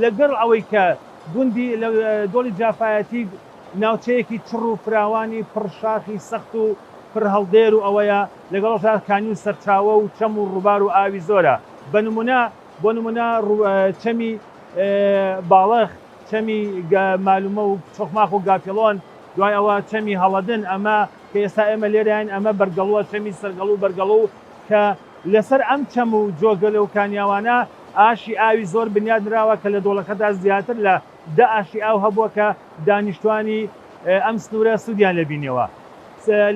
لەگەڵ ئەوەی کە گوندی دۆڵی جافایەتی ناوچەیەکی چڕ و فراوانی پڕ شاخی سەخت و پڕ هەڵدێر و ئەوەیە، لەگەڵەشدا کانی و سەرچاوە و چەم و ڕووبار و ئاوی زۆرە، بە نموونە بۆ نموونە چەمی باڵخ، چەمی مالومە و چۆخماخ و گاپیڵۆن، دوای ئەوە چەمی هەڵەدن، ئەمە کە ئێستا ئێمە لێراین ئەمە بەرگەڵوە، چەمی سەرگەڵو و بەرگەڵو کە لەسەر ئەم چەم و جۆگەلە و کانیاوانە، ئاشی ئاوی زۆر بنیات نراوە کە لە دۆڵەکەدا زیاتر لە دە ئاشی ئاو هەبووە کە دانیشتوانی ئەم سنوورە سوودیان لێ بینیەوە.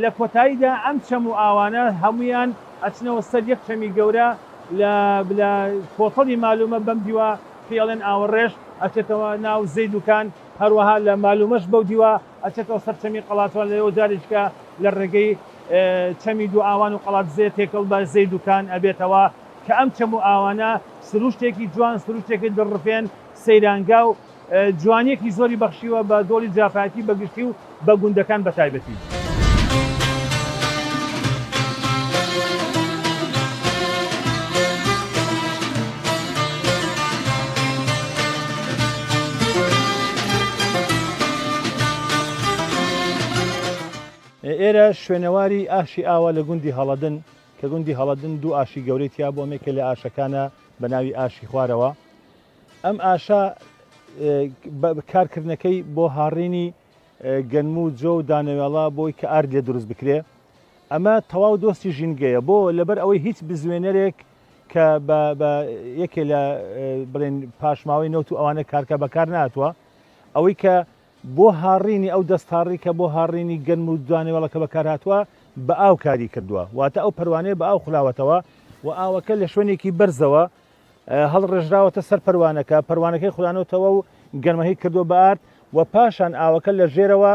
لە کۆتاییدا ئەم چەم و ئاوانە هەموویان ئەچنەوە سەر یەک چەمی گەورە لە لە کۆتەڵی مالومە بەم دیوە پێیەڵێن ئاوەڕێش ئەچێتەوە ناو زەیدوکان هەروەها لە مالومەش بەو دیوە ئەچێتەوە سەر چەمی قەڵاتوان لەوێوە جاریشکە لە ڕێگەی چەمی دووئاوان و قەڵادزێ تێکەڵ بە زەیدوکان ئەبێتەوە کە ئەم چەم و ئاوانە سروشتێکی جوان، سروشتێکی دڵڕفێن، سەیرانگا و جوانییەکی زۆری بەخشیوە بە دۆڵی جافایەتی بە گشتی و بە گوندەکان بە تایبەتی. ئێرە شوێنەواری ئاشی ئاوە لە گوندی هەڵەدن کە گوندی هەڵەدن دوو ئاشی گەورەی تیا بووە، یەکێ لە ئاشەکانە بە ناوی ئاشی خوارەوە. ئەم ئاشە کارکردنەکەی بۆ هاڕینی گەنم و جۆ و دانەوێڵە بۆی کە ئارد لێ دروست بکرێ. ئەمە تەواو دۆستی ژینگەیە بۆ لەبەر ئەوەی هیچ بزوێنەرێک کە بە یەکێ لە بڵێن پاشماوەی نەوت و ئەوانە کارکە بەکار ناتوە ئەوەی کە بۆ هاڕینی ئەو دەستهاڕی کە بۆ هاڕینی گەنم و دوانەوێڵەکە بەکارهاتووە بە ئاو کاری کردووە، واتە ئەو پەروانەیە بە ئاو خولاوەتەوە و ئاوەکە لە شوێنێکی بەرزەوە هەڵڕێژراوەتە سەر پەروانەکە، پەروانەکەی خولانۆتەوە و گەنمەکەی کردووە بە ئارد و پاشان ئاوەکە لە ژێرەوە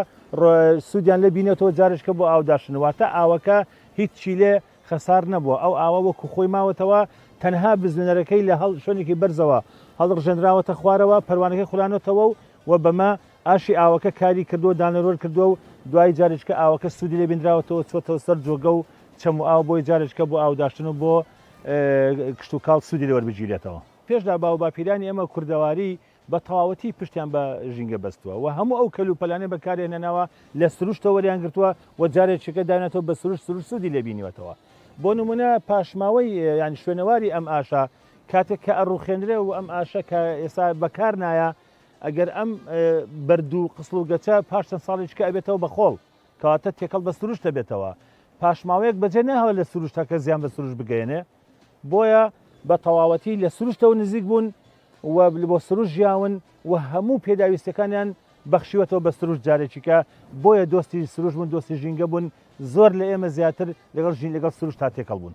سوودیان لێ بینێتەوە جارێکە بۆ ئاوداشن، واتە ئاوەکە هیچی لێ خەسار نەبووە، ئەو ئاوە وەکو خۆی ماوەتەوە، تەنها بزوێنەرەکەی لە هەڵ شوێنێکی بەرزەوە هەڵڕژێنراوەتە خوارەوە، پەروانەکەی خولانۆتەوە و و بەمە ئاشی ئاوەکە کاری کردووە دانەروەر کردووە و دوای جارێجکە ئاوەکە سوودی لێ بینراوەتەوە چووەتەوە سەر جۆگە و چەم و ئاو بۆی جارێجکە بۆ ئاوداشتن و بۆ کشتوکاڵ سوودی لێ وەربگیرێتەوە. پێشدا باوباپیرانی ئێمە کوردەواری بە تەواوەتی پشتیان بە ژینگە بەستووە و هەموو ئەو کەلوپەلانەی بەکارێنەناوە لە سروشتەوە وەریان گرتووە و جارێ چێکە داوێنێتەوە بە سروشت سروشت سوودی لێ بینیوەتەوە بۆ نمونە پاشماوەی یان شوێنەواری ئەم ئاشە کاتێک کە ئەڕوخێنرێ و ئەم ئاشە کە ئێستا بەکار نایە ئەگەر ئەم بەردوو قسڵ و گەچە پاش چەند ساڵێککە ئەبێتەوە بە خۆڵ کەواتە تێکەڵ بە سروشتە بێتەوە پاشماوەیەک بەجێ ناوە لە سروشتەکە زیان بە سروش بگەێنێ بۆیە بە تەواوەتی لە سروشتەوە نزیک بوون و بۆ سروشت ژیاون و هەموو پێداویستەکانیان بەخشیوەتەوە بە سروشت جارێکیکە بۆیە دۆستی سروشت بوون دۆستی ژینگە بوون زۆر لە ئێمە زیاتر لەگەڵ ژین لەگەڵ سروشت تا تێکەڵ بوون.